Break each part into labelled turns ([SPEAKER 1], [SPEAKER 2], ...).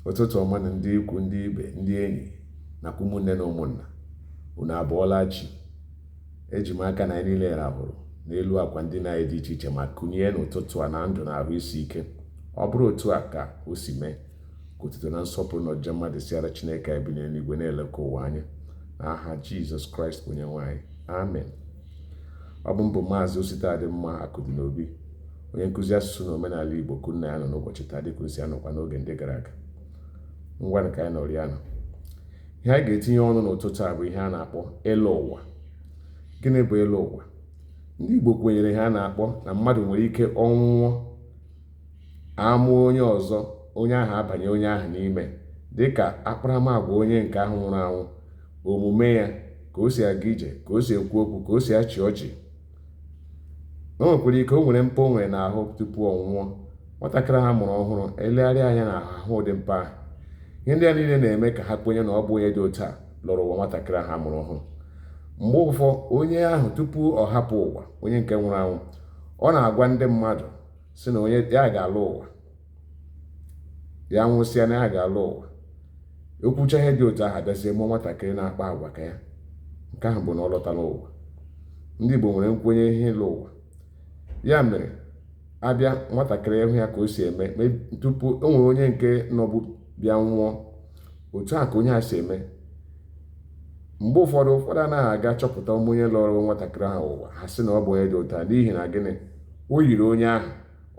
[SPEAKER 1] ụtụtụ ọma nụ ndị ikwu na ibe ndị enyi nakwa ụmụnne na ụmụnna unu abọọla chi eji m aka na anyị niile rahụrụ n'elu akwa ndina dị iche iche ma kunie n'ụtụtụ a na ndụ na ahụ isi ike ọ bụrụ otu a ka o si mee ka otuto na nsọpụrụ na ọjịja mma dịsịara chineke anyị bi n'eluigwe na-eleka ụwa anya n'aha jizọs kraịst bụ onye nwe anyị amen ọ bụ m bụ maazị ositadịmma akụdịnobi Onye nkụzi asụsụ na omenala Igbo ka unu na ya nọ n'ụbọchị taa dịka o si anọkwa n'oge ndị gara aga. Ngwanụ ka anyị nọrọ ya nọ. Ihe anyị ga-etinye ọnụ n'ụtụtụ a bụ ihe a na-akpọ ịlọ ụwa. Gịnị bụ ịlọ ụwa? Ndị Igbo kwenyere ihe a na-akpọ na mmadụ nwere ike ọ nwụọ a mụọ onye ọzọ onye ahụ abanye onye ahụ n'ime dịka akparamagwa onye nke ahụ nwụrụ anwụ omume ya ka o si aga ije ka o si ekwu okwu ka o si achị ọchị o nwekwara ike o nwere mpa o nwere n'ahụ tupu ọ nwụọ nwatakịrị ahụ a mụrụ ọhụrụ e legharịa anya n'ahụ hụ ụdị mpa ahụ ihe ndị a niile na-eme ka ha kwenye na ọ bụ onye dị otu a lọrọ ụwa nwatakịrị ahụ a mụrụ ọhụrụ mgbe ụfọ onye ahụ tupu ọ hapụ ụwa onye nke nwụrụ anwụ ọ na-agwa ndị mmadụ sị na onye ya ga-alọ ụwa ya nwụsịa na ya ga-alọ ụwa o kwuchaa ihe dị otu ahụ a bịazie mụọ nwatakịrị na-akpa agwa ka ya nke ahụ bụ na ọ lọtala ụwa ndị Igbo nwere nkwenye ihe ịlọ ụwa ya mere a bịa nwatakịrị ị hụ ya ka o si eme tupu o nwere onye nke nọbụ bịa nwụọ otu a ka onye a si eme mgbe ụfọdụ ụfọdụ anaghị aga achọpụta ọ bụ onye lọrọ nwatakịrị ahụ ụwa ha sị na ọ bụ onye dị otu a n'ihi na gịnị o yiri onye ahụ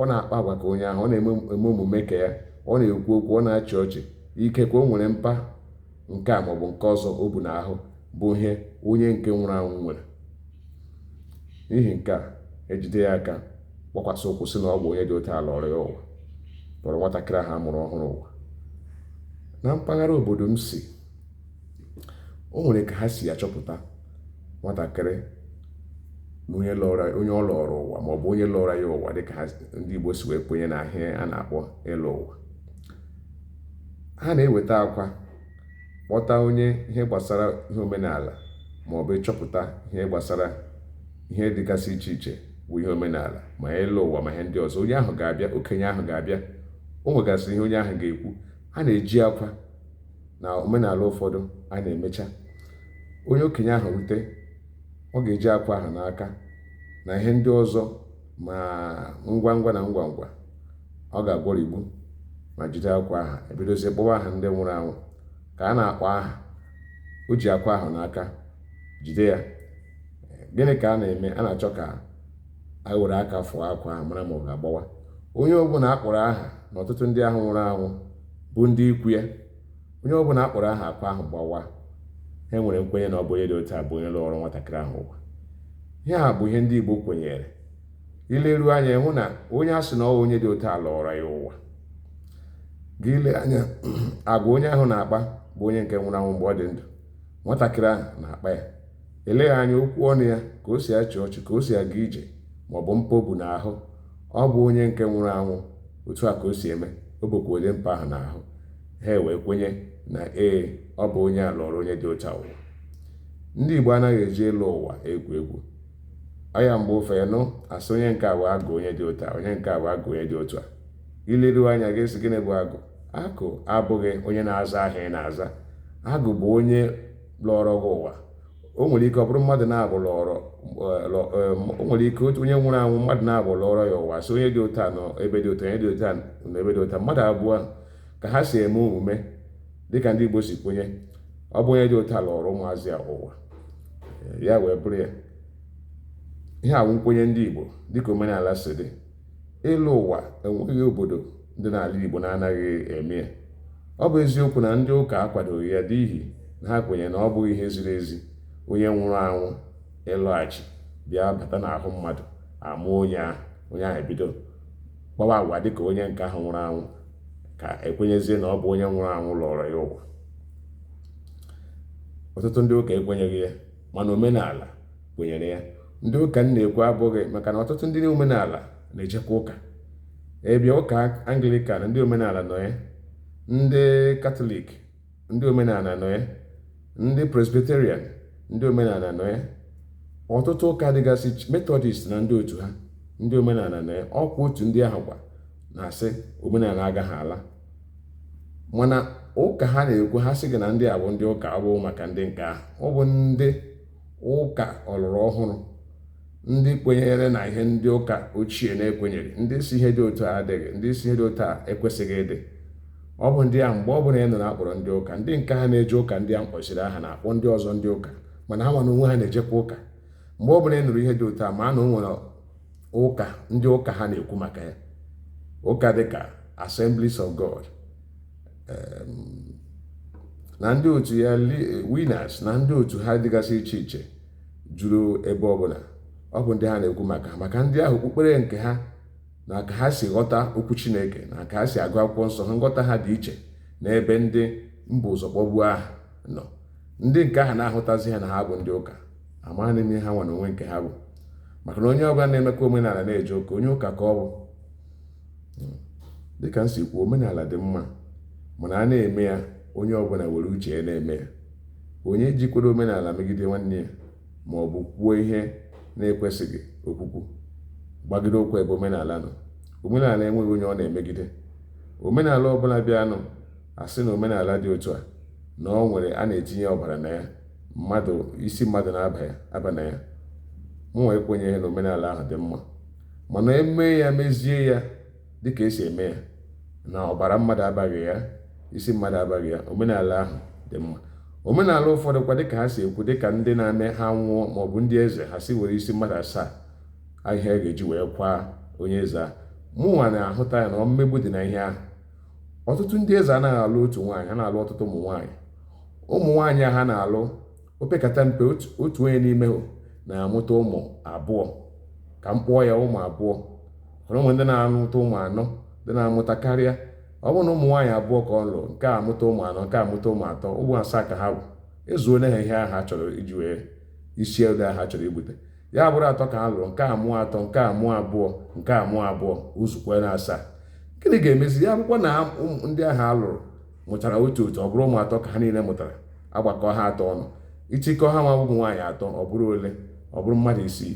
[SPEAKER 1] ọ na-akpa agwa ka onye ahụ ọ na-eme omume ka ya ọ na-ekwu okwu ọ na-achị ọchị ikekwe o nwere mpa nke a maọbụ nke ọzọ o bu n'ahụ bụ ihe onye nke nwụrụ anwụ nwere n'ihi nke a e jide ya aka gbakwasị ụkwụ sị na ọ bụ onye dị otu a lọrọ ya ụwa lọrọ nwatakịrị ahụ a mụrụ ọhụrụ ụwa na mpaghara obodo m si o nwere ka ha si achọpụta nwatakịrị onye lọrọ onye ọ lọrọ ụwa maọbụ onye lọrọ ya ụwa dịka ndị Igbo si wee kwenye n'ihe a na-akpọ ịlọ ụwa ha na-eweta akwa kpọta onye ihe gbasara ihe omenala maọbụ ịchọpụta ihe gbasara ihe dịgasị iche iche bụ ihe omenala ma ịlọ ụwa ma ihe ndị ọzọ onye ahụ ga-abịa okenye ahụ ga-abịa o nwegasịrị ihe onye ahụ ga-ekwu a na-eji akwa na omenala ụfọdụ a na-emecha onye okenye ahụ rute ọ ga-eji akwa ahụ n'aka na ihe ndị ọzọ ma ngwa ngwa na ngwa ngwa ọ ga-agwọrigbu ma jide akwa ahụ e bidozie kpọwa aha ndị nwụrụ anwụ ka a na-akpọ aha o ji akwa ahụ n'aka jide ya gịnị ka a na-eme a na-achọ ka a were aka fụọ akwa ahụ mara ma ọ ga-agbawa onye ọbụla a kpọrọ aha na ọtụtụ ndị ahụ nwụrụ anwụ bụ ndị ikwu ya Onye ọ bụla a kpọrọ aha akwa ahụ gbawa. Ha nwere nkwenye na ọ bụ onye dị otu a bụ onye lọrọ nwatakịrị ahụ ụwa. Ihe a bụ ihe ndị Igbo kwenyere. I leruo anya ị hụ na onye a sị na ọ onye dị otu a lọrọ ya ụwa. Gị ile anya agwa onye ahụ na-akpa bụ onye nke nwụrụ anwụ mgbe ọ dị ndụ. Nwatakịrị ahụ na-akpa ya. Eleghị anya okwu ọnụ ya ka o si achị ọchị ka o si aga ije ma ọ bụ mpa o bu n'ahụ. Ọ bụ onye nke nwụrụ anwụ otu a ka o si eme. O bukwa onye mpa ahụ n'ahụ. ha ewee kwenye na ee ọ bụ onye a lọrọ onye dị otu a ụwa ndị Igbo anaghị eji ịlọ ụwa egwu egwu ọ ya mgbe ụfọdụ a sị onye nke a bụ agụ onye dị otu a onye nke a bụ agụ onye dị otu a i leruo anya gị sị gịnị bụ agụ agụ abụghị onye na-aza aha ị na-aza agụ bụ onye lọrọ gị ụwa o nwere ike ọ bụrụ mmadụ naabọ lọrọ o nwere ike otu onye nwụrụ anwụ mmadụ naabọ lọrọ ya ụwa so onye dị otu a nọ ebe dị otu onye dị otu a nọ ebe dị otu mmadụ abụọ ka ha si eme omume dịka ndị Igbo si kwenye ọ bụ onye dị otu a lọrọ ụmụazị a ụwa ya wee bụrụ ya ihe a wụ nkwenye ndị Igbo dịka omenala si dị ịlọ ụwa enweghị obodo dị n'ala Igbo na-anaghị eme ya ọ bụ eziokwu na ndị ụka akwadoghị ya n'ihi na ha kwenyere na ọ bụghị ihe ziri ezi onye nwụrụ anwụ ịlọghachi bịa bata n'ahụ mmadụ a mụọ onye ahụ onye ahụ ebido kpawa agwa dị ka onye nke ahụ nwụrụ anwụ ka e kwenyezie na ọ bụ onye nwụrụ anwụ lọrọ ya ụwa ọtụtụ ndị ụka ekwenyeghị ya mana omenala kwenyere ya ndị ụka m na-ekwu abụghị maka na ọtụtụ ndị omenala na-ejekwa ụka ị bịa ụka anglikan ndị omenala nọ ya ndị katọlik ndị omenala nọ ya ndị presbyterian ndị omenala nọ ya ọtụtụ ụka dịgasị metọdist na ndị otu ha ndị omenala nọ ya ọkwa otu ndị ahụkwa na-asị omenala agaghị ala mana ụka ha na-ekwu ha sị gị na ndị a bụ ndị ụka ọ bụ maka ndị nke ahụ ọ bụ ndị ụka ọlụrụ ọhụrụ ndị kwenyere na ihe ndị ụka ochie na-ekwenyeghị ndị sị ihe dị otu a adịghị ndị sị ihe dị otu a ekwesịghị ịdị ọ bụ ndị a mgbe ọ bụla ị nụrụ a kpọrọ ndị ụka ndị nke ha na-eje ụka ndị a m kpọsịrị aha na-akpọ ndị ọzọ ndị ụka mana ha nwa na onwe ha na-ejekwa ụka mgbe ọ bụla ị nụrụ ihe dị otu a ma na o nwere ụka ndị ụka ha na-ekwu maka ya ụka dịka Assemblies of God na ndị otu ya winners na ndị otu ha dịgasị iche iche juru ebe ọbụla ọ bụ ndị ha na-ekwu maka maka ndị ahụ okpukpere nke ha na ka ha si ghọta okwu chineke na ka ha si agụ akwụkwọ nsọ ha nghọta ha dị iche n'ebe ndị m bu ụzọ kpọbuo aha nọ ndị nke ahụ na-ahụtazi ha na ha bụ ndị ụka amaghị m ihe ha nwa na onwe nke ha bụ maka na onye ọbụla na-emekwa omenala na-eje ụka onye ụka ka ọ bụ hmm. dịka m si kwuo omenala dị mma mana a na-eme ya onye ọbụla were uche ya na-eme ya onye jikwara omenala megide nwanne ya ma ọ bụ kwuo ihe na-ekwesịghị okwukwu gbagide ụkwụ ebe omenala nọ omenala enweghị onye ọ na-emegide omenala ọbụla bịanụ a sị na omenala dị otu a na ọ nwere a na-etinye ọbara na ya mmadụ isi mmadụ na-aba na ya mụnwa ekwenyeghị na omenala ahụ dị mma mana e mee ya mezie ya dịka e si eme ya na ọbara mmadụ abaghị ya isi mmadụ abaghị ya omenala ahụ dị mma omenala ụfọdụ kwa dịka ha si ekwu dịka ndị na-eme ha nwụọ maọbụ ndị eze ha si were isi mmadụ asaa ahịa a ga-eji wee kwaa onye eze ahụ mụnwa na-ahụta ya na mmegbu dị na ihe ahụ ọtụtụ ndị eze anaghị alụ otu nwaanyị ha na-alụ ọtụtụ ụmụ nwaanyị ụmụ nwaanyị ha na-alụ opekata mpe otu onye n'ime ha na-amụta ụmụ abụọ ka m kpọọ ya ụmụ abụọ ụmụ ndị na-amụta ụmụ anọ ndị na-amụta karịa ọ bụrụ na ụmụ nwaanyị abụọ ka ọ lụrụ nke a mụta ụmụ anọ nke a mụta ụmụ atọ ụmụ asaa ka ha bụ ezuole ha ihe a ha chọrọ iji wee isi ego a ha chọrọ ibute ya bụrụ atọ ka ha lụrụ nke a mụọ atọ nke a mụọ abụọ nke a mụọ abụọ o zukwala asaa gịnị ga-emezi ya abụkwa na ndị ahụ a lụrụ mụchara otu otu ọ bụrụ ụmụ atọ ka ha niile mụtara a gbakọọ ha atọ ọnụ ị chịkọọ ha nwa ụmụ nwaanyị atọ ọ bụrụ ole ọ bụrụ mmadụ isii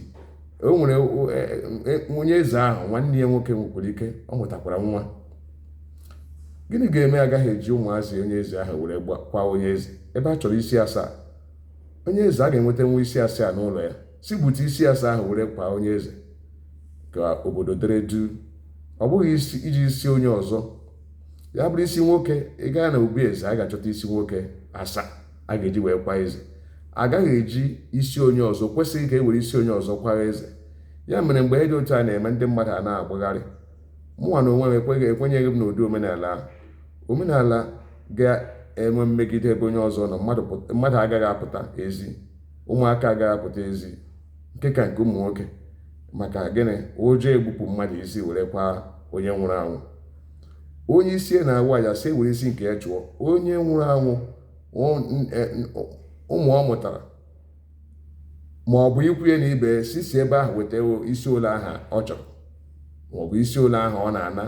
[SPEAKER 1] o nwere e, e, e, onye eze ahụ nwanne ya nwoke nwekwara ike ọ mụtakwara nwa gịnị ga-eme agaghị eji ụmụazị onye eze ahụ were kwaa onye eze ebe a chọrọ isi asaa onye eze a ga-enwetanwu isi asaa n'ụlọ ya si bute isi asaa ahụ were kwaa onye eze ka obodo dere duu ọ bụghị iji isi onye ọzọ ya bụrụ isi nwoke ị gaa na obi eze a ga-achọta isi nwoke asaa a ga-eji wee kwaa eze a gaghị eji isi onye ọzọ kwesịghị ka e were isi onye ọzọ kwara eze ya mere mgbe ihe dị otu a na-eme ndị mmadụ a na-agbagharị mụnwa na onwe m ekweghị ekwenyeghị m n'ụdị omenala ahụ omenala ga-enwe mmegide ebe onye ọzọ nọ mmadụ agaghị apụta ezi ụmụaka agaghị apụta ezi nke ka nke ụmụ nwoke maka gịnị ụjọ egbupụ mmadụ isi were kwa onye nwụrụ anwụ onye isi na-awa ya sị were isi nke ya chụọ onye nwụrụ anwụ e, ụmụ ọ mụtara ma ọ bụ ikwu ya na ibe si si ebe ahụ weta isi ole aha ọ chọrọ ma ọ bụ isi ole aha ọ na-ana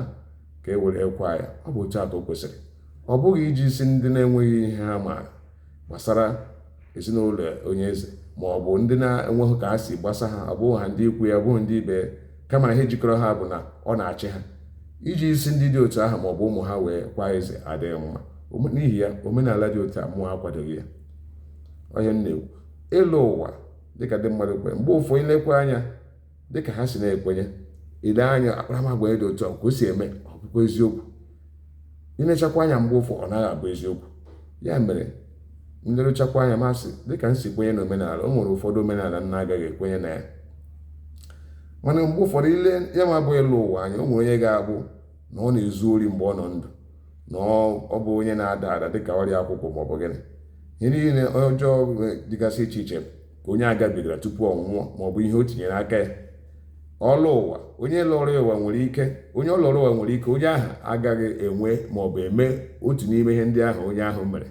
[SPEAKER 1] ka e were kwa ya ọ bụ otu atọ kwesịrị ọ bụghị iji isi ndị na-enweghị ihe ha maara gbasara ezinụlọ onye eze ma ọ bụ ndị na-enweghị ka ha si gbasa ha abụghị ha ndị ikwu ya ọ bụghị ndị ibe kama ihe jikọrọ ha bụ na ọ na-achị ha iji isi ndị dị otu ahụ ma ọ bụ ụmụ ha wee kwa eze adịghị mma n'ihi ya omenala dị otu a mụa akwadoghị ya ihe m na-ekwu ịlọ ụwa dịka ndị mmadụ kwere mgbe ụfọdụ i lekwa anya dị ka ha si na-ekwenye ile anya akparamagwa ya dị otu a ka o si eme ọ bụkwa eziokwu i lechakwa anya mgbe ụfọ ọ naghị abụ eziokwu ya mere m leruchakwa anya m asị dịka m si kwenye na omenala o nwere ụfọdụ omenala m na-agaghị ekwenye na ya mana mgbe ụfọdụ i le ya nwa bụ ịlọ ụwa anya o nwere onye ga-abụ na ọ na-ezu ori mgbe ọ nọ ndụ na ọ bụ onye na-ada ada dịka ọrịa akwụkwụ ma ọ bụ gịnị ihe niile ọjọọ dịgasị iche iche ka onye a gabigara tupu ọ nwụọ ma ọ bụ ihe o tinyere aka ya ọ lọọ ụwa onye lọrọ ụwa nwere ike onye ọ lọrọ ụwa nwere ike onye ahụ agaghị enwe ma ọ bụ eme otu n'ime ihe ndị ahụ onye ahụ mere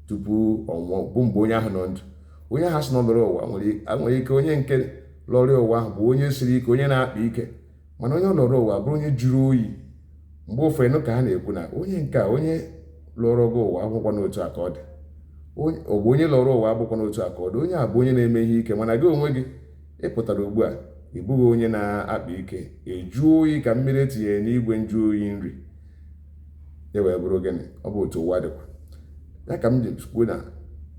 [SPEAKER 1] tupu ọ nwụọ bụ mgbe onye ahụ nọ ndụ onye ahụ a sị na ọ lọrọ ụwa nwere ike onye nke lọrọ ụwa ahụ bụ onye siri ike onye na-akpa ike mana onye lọrọ ụwa bụrụ onye jụrụ oyi mgbe ụfọ ị nụ ka ha na-ekwu na onye nke a onye lọrọ gị ụwa abụkwanụ otu a ka ọ dị ọ bụ onye lọrọ ụwa abụkwanụ otu a ka ọ dị onye a bụ onye na-eme ihe ike mana gị onwe gị ị pụtara ugbu a ị bụghị onye na-akpa ike ị jụọ oyi ka mmiri e tinyere n'igwe nju oyi n'ihi ya wee bụrụ gịnị ọ bụ otu ụwa dịkwa ya ka m ji kwuo na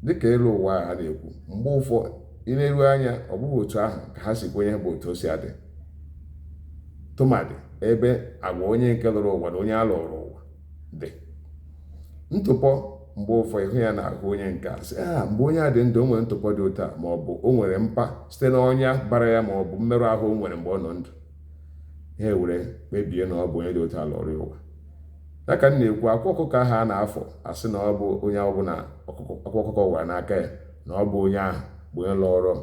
[SPEAKER 1] dịka ịlọ ụwa a na-ekwu mgbe ụfọ i leru anya ọ bụghị otu ahụ ka ha si kwenye bụ otu o si adị tụmadị ebe agwa onye nke lọrọ ụwa na onye a lọrọ ụwa dị ntụpọ mgbe ụfọ ị hụ ya n'ahụ onye nke a asị ah, mgbe onye a dị ndụ o nwere ntụpọ dị otu a ma ọ bụ o nwere mpa site na ọnya bara ya ma ọ bụ mmerụ ahụ o nwere mgbe ọ nọ ndụ ha were kpebie na ọ bụ onye dị otu a lọrọ ụwa ya ka m na-ekwu akwa ọkụkọ ahụ a na-afọ asị na ọ bụ onye ọbụla akwa ọkụkọ wara n'aka ya na ọ bụ onye ahụ bụ onye lọrọ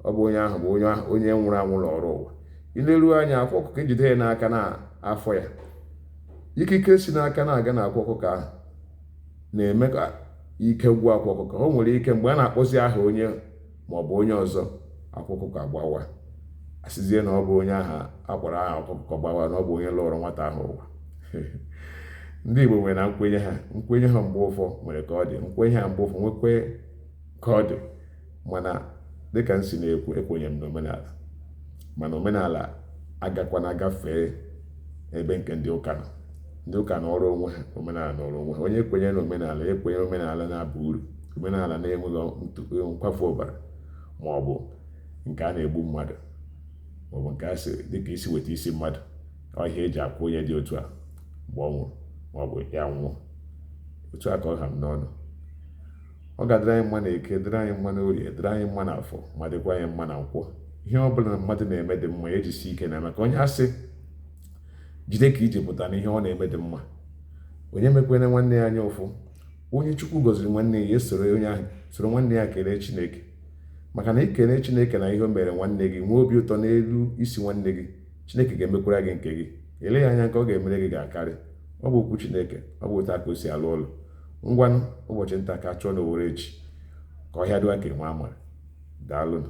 [SPEAKER 1] ọ bụ onye ahụ bụ onye ahụ onye nwụrụ anwụ lọrọ ụwa i leru anya akwa ọkụkọ e jide ya n'aka na-afọ ya ikike si n'aka na-aga na akwa ọkụkọ ahụ na-eme ka ike gwụ akwa ọkụkọ o nwere ike mgbe a na-akpọzi aha onye ma ọ bụ onye ọzọ akwa ọkụkọ agbawa asịzie na ọ bụ onye aha a kpọrọ aha ọkụkọ gbawa na ọ bụ onye lọrọ nwata ahụ ụwa ndị Igbo nwere na nkwenye ha nkwenye ha mgbe ụfọ nwere ka ọ dị nkwenye ha mgbe ụfọ nwekwe ka ọ dị mana dịka m si na-ekwu ekwenye m n'omenala mana omenala agakwana gafee ebe nke ndị ụka nọ ndị ụka nọrọ onwe ha omenala nọrọ onwe ha onye kwenye na omenala ekwenye omenala na-aba uru omenala na-enweghị nkwafu ọbara ma ọ bụ nke a na-egbu mmadụ ma ọ bụ nke a sịrị dịka ịsị weta isi mmadụ ọ ihe e ji akwa onye dị otu a mgbe ọ nwụrụ ma ọ bụ ya nwụọ otu a ka ọ ha m n'ọnụ ọ ga-adịrị anyị mma na eke dịrị anyị mma na orie dịrị anyị mma na afọ ma dịkwa anyị mma na nkwọ ihe ọ bụla mmadụ na-eme dị mma ejisi ike na maka onye a sị jide ka i ji pụta na ihe ọ na-eme dị mma onye mekwene nwanne ya anya ụfụ onye chukwu gọziri nwanne ya esoro onye ahụ soro nwanne ya kelee chineke maka na i kelee chineke na ihe o mere nwanne gị nwee obi ụtọ n'elu isi nwanne gị chineke ga-emekwara gị nke gị eleghị anya nke ọ ga-emere gị ga-akarị ọ bụ okwu chineke ọ bụ otu a ka o si alụ ọlụ ngwanụ ụbọchị nta ka a chụọ na owere nchi ka ọhịa dịwa ka enwe amara daalụnụ